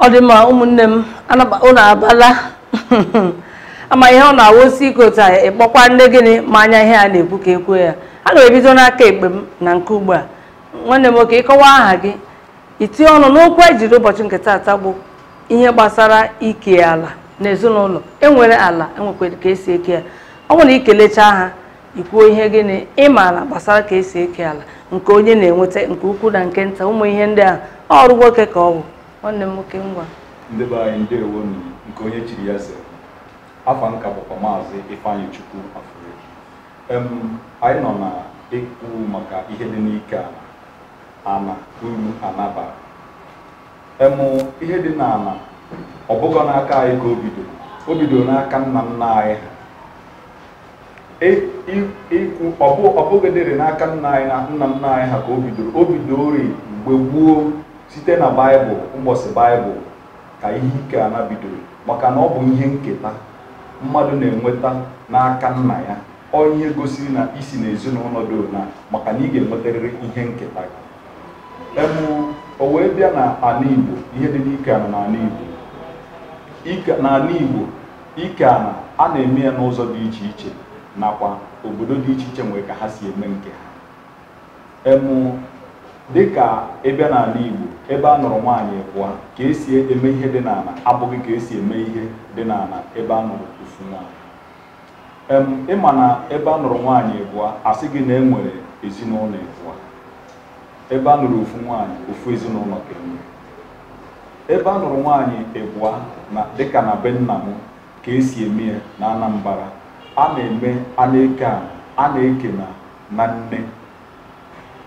ọ dị mma ụmụnne m ụnụ abala ama ihe ọ na-awụ sị ikota ịkpọkwa nne gịnị ma anya ihe a na-ekwu ka ekwuo ya a na-ebido n'aka ekpe m na nke ugbu a nwanne m nwoke ịkọwa aha gị itinye ọnụ n'okwu ejiri ụbọchị nke taata bụ ihe gbasara ike ala na ezinụlọ enwere ala enwekwere ka esi eke ya ọ bụrụ na ikelechaa ha ikwuo ihe gịnị ị maara gbasara ka esi eke ala nke onye na-enweta nke ukwu na nke nta ụmụ ihe ndị a ọrụ nwoke ka ọ bụ nwanne m nwoke ngwa ndị be anyị ndewo nụ nke onye chiri ya ze afa m ka bụkwa maazị ifeanyịchukwu afure em anyị nọ na-ekwu maka ihe dị n'ike ana na uru ana bara em ihe dị n'ana ọ bụghị n'aka anyị ka o bidoro o bidoro n'aka nna nna anyị ha ọ bụghịdịrị n'aka nna anyị na nna nna anyị ha ka o bidoro o bidoro mgbe gboo site na baịbụl mbọsị baịbụl ka ihe ike ana bidoro maka na ọ bụ ihe nketa mmadụ na-enweta n'aka nna ya ọ ihe gosiri na isi na ezinụlọ dị na maka na ị ga-enwetarịrị ihe nketa em o wee bịa na ala igbo ihe dị n'ike ana n'ala igbo n'ala igbo Ike ana a na-eme ya n'ụzọ dị iche iche nakwa obodo dị iche iche nwere ka ha si eme nke ha em dịka ịbịa n'ala Igbo ebe a nụrụ nwaanyị ịbụa ka esi eme ihe dị n'ala abụghị ka esi eme ihe dị n'ala ebe a nụrụ ofu nwaanyị ịma na ebe a nụrụ nwaanyị abụọ asị gị na e nwere ezinụlọ ịbụa ebe a nụrụ ofu nwaanyị ofu ezinụlọ ka enwe ebe a nụrụ nwaanyị ịbụa na dịka na be nna m ka esi eme ya na anambra a na-eme a na-eke a a na-eke ana na nne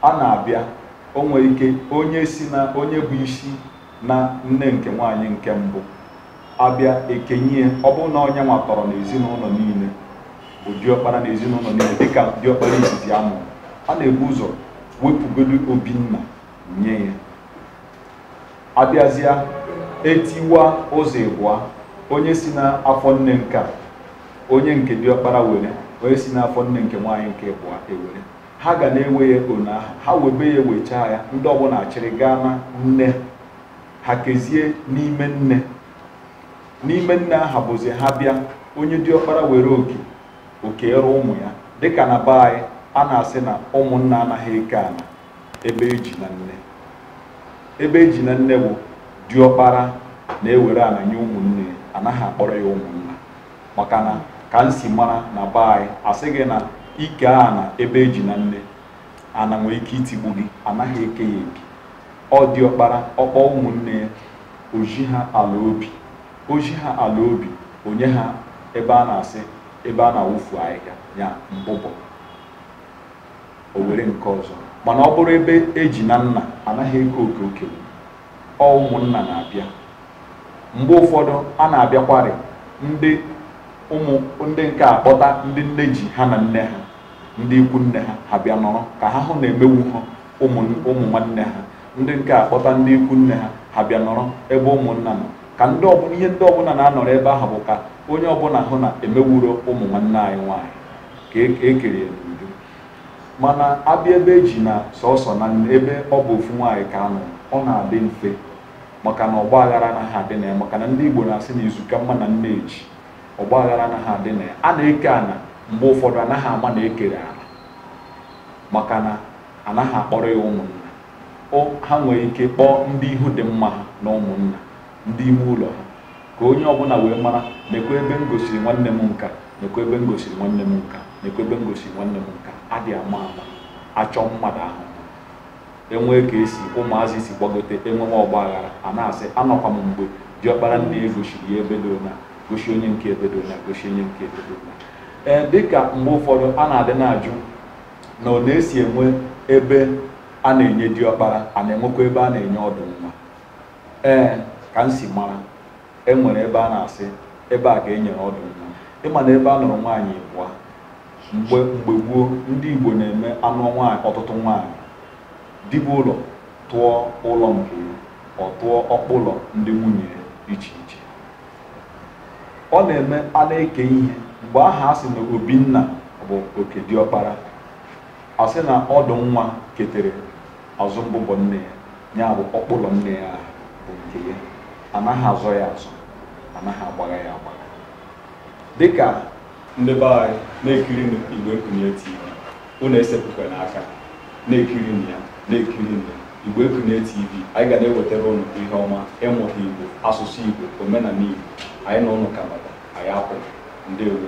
a na-abịa o nwere ike onye si na onye bụ isi na nne nke nwaanyị nke mbụ abịa ekenye ya ọ bụrụ na onye nwa tọrọ n'ezinụlọ niile bụ diọkpara na ezinụlọ niile dịka diọkpara izizi a mụrụ a na-ebu ụzọ wepụgodu obi nna nye ya abịazịa etiwa ụzọ ịbụa onye si n'afọ nne nke onye nke diọkpara were onye si n'afọ nne nke nwaanyị nke ịbụa ewere ha ga na-ewe ya ona aha ha webe ya wechaa ya ndị ọbụla achịrị gaa na nne ha kezie n'ime nne n'ime nne aha bụzi ha bịa onye diọkpara were oke oke eruo ụmụ ya dịka na be anyị a na-asị na ụmụnna anaghị eke ana ebe eji na nne ebe eji na nne bụ diọkpara na-ewere ana nye ụmụnne anaghị akpọrọ ya ụmụnna maka na ka m si mara na be anyị asị gị na ike ana ebe eji na nne ana nwere ike itigbu gị anaghị eke ya eke ọ diọkpara ọ kpọọ ụmụnne ya o zi ha ala obi o zi ha ala obi o nye ha ebe a na-asị ebe a na-awụfu ahịhịa ya mbụbọ o were nke ọzọ mana ọ bụrụ ebe eji na nna anaghị eke oke okenye ọ ụmụnna na-abịa mgbe ụfọdụ a na-abịakwarị ndị ụmụ ndị nke akpọta ndị nne ji ha na nne ha ndị ikwu nne ha ha bịa nọrọ ka ha hụ na emewu ha ụmụ ụmụ nwanne ha ndị nke a kpọta ndị ikwu nne ha ha bịa nọrọ ebe ụmụnna nọ ka ndị ọbụla ihe ndị ọbụla na-anọrọ ebe ahụ bụ ka onye ọbụla hụ na emewuro ụmụ nwanne anyị nwaanyị ka e- ka ekere ya n'udo mana abịa ebe eji na sọsọ na nne ebe ọ bụ ofu nwaanyị ka anọ ọ na-adị mfe maka na ọgba aghara anaghị adị na ya maka na ndị Igbo na-asị na izu ka mma na nne ji ọgba aghara anaghị adị na ya a na-eke ana mgbe ụfọdụ anaghị ama na ekere ala maka na anaghị akpọrọ ya ụmụnna ha nwere ike kpọọ ndị ihu dị mma ha na ụmụnna ndị ime ụlọ ha ka onye ọbụla wee mara nekwa ebe m gosiri nwanne m nka nekwa ebe m gosiri nwanne m nka nekwa ebe m gosiri nwanne m nka adị ama ama achọ mmadụ ahụ enwee ka esi ụmụazị si gbagote enwewe ọgba aghara a na-asị anọkwa m mgbe diọkpara nne ya gosiri ya ebe dị ụna gosi onye nke ebe dị ụna gosi onye nke ebe dị ụna ee dịka mgbe ụfọdụ a na-adị na-ajụ na ọ na-esi enwe ebe a na-enye diọkpara a na-enwekwa ebe a na-enye ọdụ nwa ee ka m si mara e nwere ebe a na-asị ebe a ka e nyere ọdụ nwa ịma na ebe a nụrụ nwaanyị abụọ mgbe mgbe gboo ndị Igbo na-eme anụ nwaanyị ọtụtụ nwaanyị dibiụlọ tụọ ụlọ nke ya ọ tụọ ọkpụlọ ndị nwunye ya iche iche ọ na-eme a na-eke ihe mgbe aha a sị na obi nna bụ oke diọkpara a sị na ọdụ nwa ketere azụ mbụbọ nne ya ya bụ ọkpụlọ nne ya bụ nke ya anaghị azọ ya azọ anaghị agbagha ya agbagha dịka ndị be anyị na-ekiri igbo ekunie tv unu esepụkwana aka na-ekirinụ ya na-ekirinụ ya igbo ekunie tv anyị ga na-ewetara ụnụ ihe ọma ịmụta igbo asụsụ igbo omenala igbo anyị na ụnụ kanada anyị akwụ ndeewo